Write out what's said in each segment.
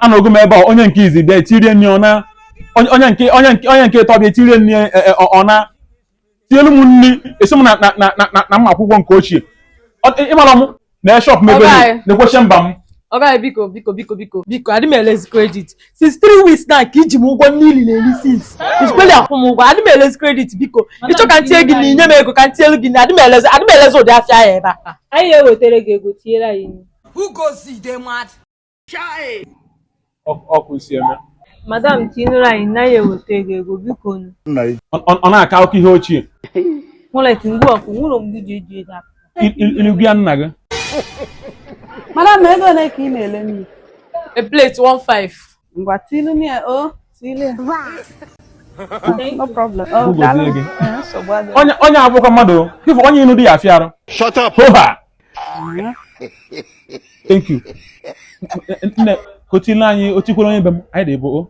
anọgo m ebe a onye nke izi bịa etirie nri ọ naa onye nke onye nke onye nke ịtọ bịa etirie nri e, e, ọna tielu m nri asị m na na na na na m ma-akwụkwa nke ochie ịmara m na eshọp m ebe na-ekwesị mba m ọga biko biko biko biko biko adị m elezi kredit since three weeks na ka i ji m ụgwọ niile na-eri since ijikpeli akwụ m ụgwọ adị m elezi kredit biko ị chọọ ka ntinye gị na i nye m ego ka ntinyelu gị na adị m elezi adị m elezi ụdị afịa ya ebe a anyị ewetara gị ego tinyere anyị Who goes the day mad? Chai! Ọ ka i si eme. Madam tinụrụ anyị na anyị eweta ego ego biko nu. Ọ na-akọ akụkọ ihe ochie. Nwụrụ eti ngwa ọkụ nwụrụ mgbe e ji eji ego apụ. Ilu gị ya nna gị. Madam ego ole ka ị na-ele nri? A plate one five. ngwa tilu m ya o tilu ya no problem o Ugo daalụ tilu gị. Eh, nsogbu adịghị. onye onye abụkwa mmadụ o. Ife onye inu di ya afịa arụ Shut up! hoha thank you nne ka o tile anyị o tikwere onye be m anyị dị abụọ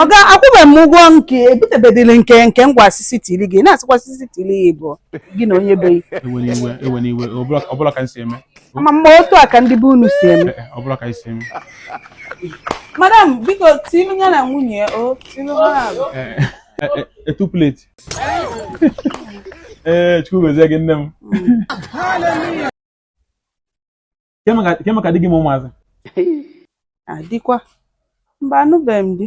ọga akwụbeghị m ụgwọ nke ebutebedịrị nke nke ngwa asịsị tili gị na-asịkwa asịsị tili ya bụ gị na onye be gị ewena iwe ewena iwe ọbụla ọbụla ka m si eme ma m na otu a ka ndị be unu si eme ọ bụla ka i si eme madam biko tinu ya na nwunye ya o tinu ha naabọ. two plate ee chukwu gozie gị nne m Ke maka- ke maka di gị ma ụmụazị adịkwa mba anụbeghị m di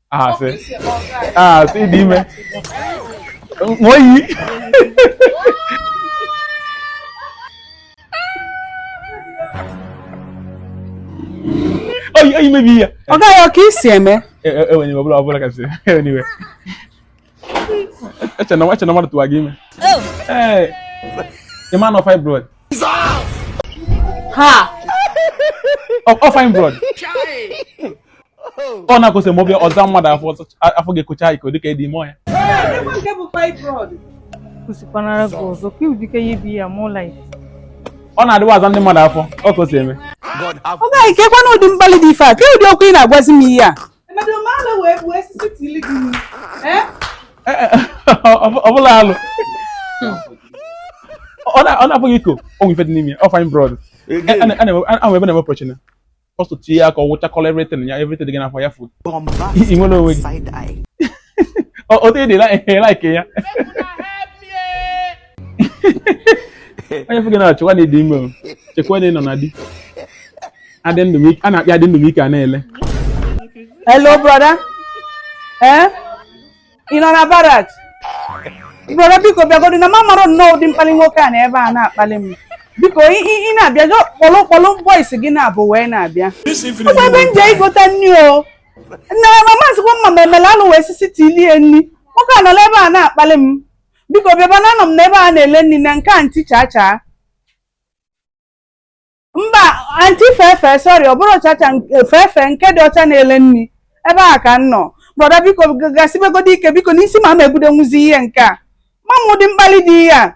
asị asị dị ime ṅụọ iyi oyi oyi mebi ya ọ gaghị ọ ka i si eme enweghị ọbụla ọbụla kasị enweghị eche m na nwa eche m na mmadụ tụwa gị ime Oh, ee ị ma na ọ fibroid ha! ọ ọ fibroid ọ na-akwụsị ma ọ bịa ọ zaa mmadụ afọ ọzọ- a- afọ ga-ekocha eko dịka ị dị ime ọ ya Ebe nke bụ fibroid. kwụsịkwanara gị ọzọ ka ụdịka ya ibi ya mụọ laif ọ na-adịwa aza ndị mmadụ afọ ọ ka o si eme ọ gaghị kekwanụ ụdị mkpali dị ife a ke ụdị okwu ị na-agwazi m ihe a ọ bụla alụ ọ na-abụghị eko o nwe ife dị n'ime ọ fibroid ahụ ebe na-eme pọchina ọ sụtụ ya ka ọ wụchakọla everything ya everything dị gị n'afọ ya fụ ị nwere onwe gị otu ị dị like ya onye fụ gị na-echekwa na ị dị ime o chekwa na ị nọ na di adị ndụ m ike- a na-akpị adị ndụ m ike a na-ele Hello, brother. Eh? Ị nọ na barrack? Brother, biko bịagodu na m amarọ nnọọ ụdị mkpalị nwoke a nọ ebe a na-akpalị m. Biko, ị ị- ị na-abịa just kpọlụ kpọlụ boys gị naabọ wee na-abịa. Ọkwa ebe m jee igota nri o. Nna m amazikwa m ma m emela alụ wee sisi tilie nri. Nwoke a nọla ebe a na-akpalị m. biko bịaba na anọ m na ebe a na-ele nni na nke aunty chacha mba aunty fefe sorry ọ bụrọ chacha fefe nke dị ọcha na-ele nni ebe a ka m nọ brother biko gasibegodu ike biko n'isi ma m ebudonwuzi ihe nke a ma m ụdị mkpalị dị ihe a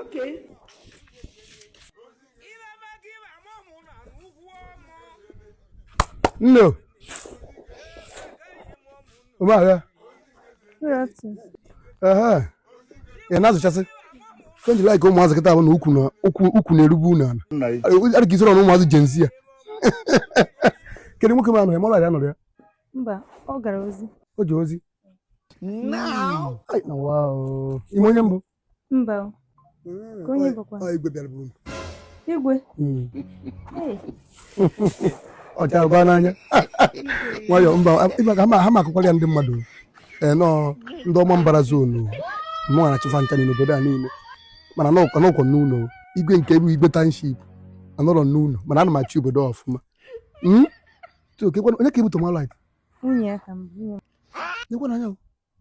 Okay. No. Uma ya. Aha. Ya nazo chasi. Kwenye like ụmụazị kịta bụ na ukwu na ukwu ukwu na-erubu unu ala. Adịghị izoro na ụmụazị Gen Z a. Kedu nwoke ma anọ ya? Mọla ya anọ ya. mba ọ gara ozi o ji ozi Now. Ai, na wa o ime onye mbụ mba o. ka onye bụkwa Ọ igwe bịara buru m. igwe Mm. Hey, ọ chara gwa n'anya nwayọ mba ịma ka ha ma- ha ma akụkwara ya ndị mmadụ ee nọọ ndị ọma mbara zonu mụ na-achị fa ncha niile obodo a niile mana n'ụkọ n'ụkọ n'ụlọ igwe nke bụ igwe township anọrọ n'ụlọ mana ana m achị obodo a ọfụma Mm? onye ka ibute malait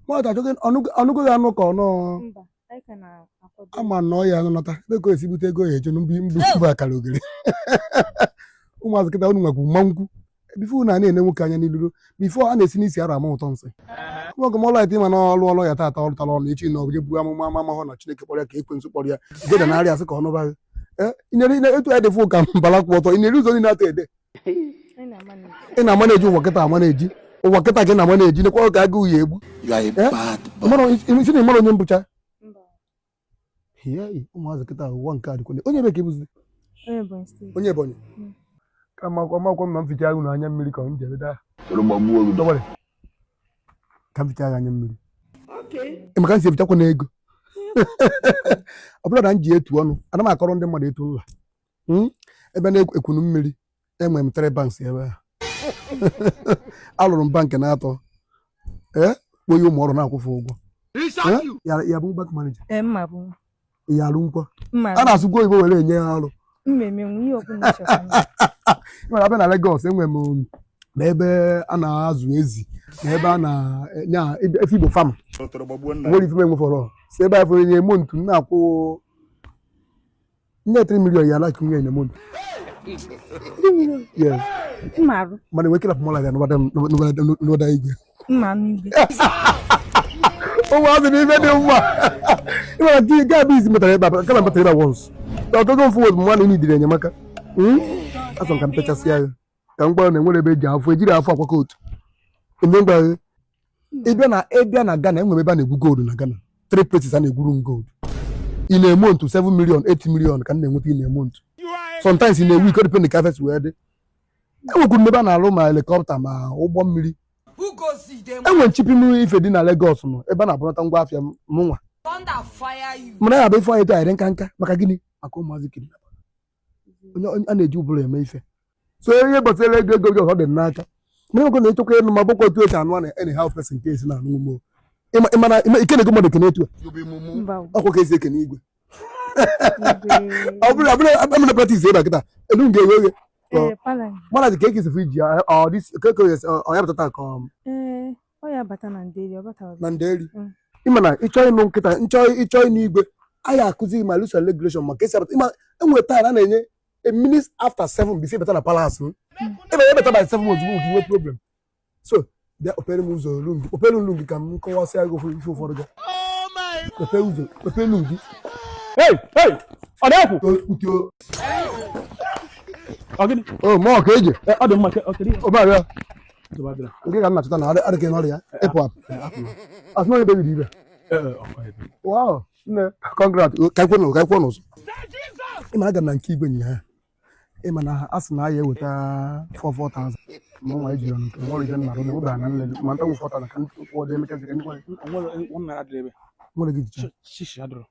ọ nụgo ya anụ ka ọ nọọ ama na ọya nọta ego esi bute ego ya eje na mbụ akara ogere ụmụazị kịta unu nwekwu mma nkwu before unu a na-ene nwoke anya n'iru before a na-esi n'isi arụ ama ụtọ nsị nwoke mọlọ ite ịma na ọ lụ ọlụ ya taata ọ lụtara ọlụ echi na ọbụje buru amụma ama amahụ na Chineke kpọrọ ya ka ekwensu kpọrọ ya geda na arịa asị ka ọ nụbaghị e, etu ya dịfụ ka mbala kwụ ọtọ ị na-eri ụzọ niile atọ ede ị na-ama na-eji ụwa kịta ama na-eji ụwa kịta gị na-ama na-eji nekwa oge agụ uye egbu si na ịmara onye mbụcha ụmụazị kịta ụwa nke a dịkwale onye ebee ka ị bụzi onye Ebonyi hmm. ka makwa makwa ma m ficha agụ na anya mmiri ka m jere daa ka m ficha agụ anya mmiri maka m si efichakwa na ego ọ bụrụ na m ji etu ọnụ ana m akọrọ ndị mmadụ etu nla hmm? ebe a na-ekwunu mmiri enwere m three banks ebe a alụrụ m bank n'atọ ee eh? kpọye ụmụ ọrụ na-akwụ fa ụgwọ eh? ya bụ bank manager eh, ya alụ nkwa a na-asụkwa oyibo were enye ya ọrụ e nwere a bịa na Lagos enwere m um, na ebe a na-azụ ezi na ebe a na-enya efe Igbo farm nwere ife m enwefọrọ si ebe a fọrọ nye mo ntu na-akwụ nye 3 million ya like nwunye enyemobi yes mmarụ mana enwe kelapụ mọla ya n'ụbada igwe mma n'igwe ụmụazị na ibe dị mma ịmara di ga-abụ izi metara ebe a kama metara ebe a once ọgụgụ mfụ wod mmanụ ị na-idiri enyemaka asọ ka m pechasịa ya ka m gwara na enwere ebe eji afọ ejiri afọ akwakọ otu eme ngwa ị bịa na ị bịa na Ghana e nwere ebe a na-egwu gold na Ghana three places a na-egwuru m gold in a month 7 million 8 million ka m na-enweta in a month sometimes in a week depend ka afịa si wee dị enwekwuru ebe a na-alụ ma helikọpta ma ụgbọ mmiri enwe ship m ife dị na Lagos nọ ebe a na-ebunata ngwa afịa mụnwa mana ya bụ ife anyị eto anyị dị nka nka maka gịnị maka ụmụazị kidnap onye onye- a na-eji ụbụrụ eme ife so ihe gbasara ego ego gị ọ dị n'aka mana ego na ị chọkwa ịnụ m ọ bụkwa otu esi anụ a na any how person ka esi na-anụ ume ịma ịmana ịma- ị kenego mmadụ ekene etu a mba o, ọ kwa ka esi ekene igwe ọ bụrụ abụrụ abụrụ practice ebe a kịta elu m ga-eghe oghe ee, pala. mana dị ka ekesi fụ iji ya ọ dị ka ka ọ ya pụtata ka ọ ee, Ọ ya bata na nderi, ọ bata na nderi. Mm. Ị ma na ị chọ ịnụ m kịta, nchọ ị chọ ịnụ igwe, anyị akụzi gị ma rules and regulation maka esi abata. Ị ma e nwe time a na-enye a minute after seven bisi ebata na palace m. Ebe ebata by seven ozugbo nke i nwe problem. So, bịa kpepere m ụzọ olu gị, kpepere olu gị ka m kọwasịa gị ife ụfọdụ gị. Kpepere ụzọ, kpepere olu gị. Hey, hey, ọ na-ekwu. Ọ gịnị? O, ma ọ ka eji. Ọ dị mma, ọ kere. Ọ bịa. nke ka m na-achọta na adịghị n'ọrịa ịpụ apụ asị na onye bebiri ibe wow nne congrat ka ekwe n'ụzọ ka ekwe n'ụzọ ịma aga m na nke igwe nyi ha ị ma na a sị na a ya-eweta 44,000 ma nwa ejiri ọnụ nke nwere ije nnarụ na obe ana nlele ma nta nwụfọta na ka ndị kwụọ dị emechaziri ndị nwere nwere gị jicha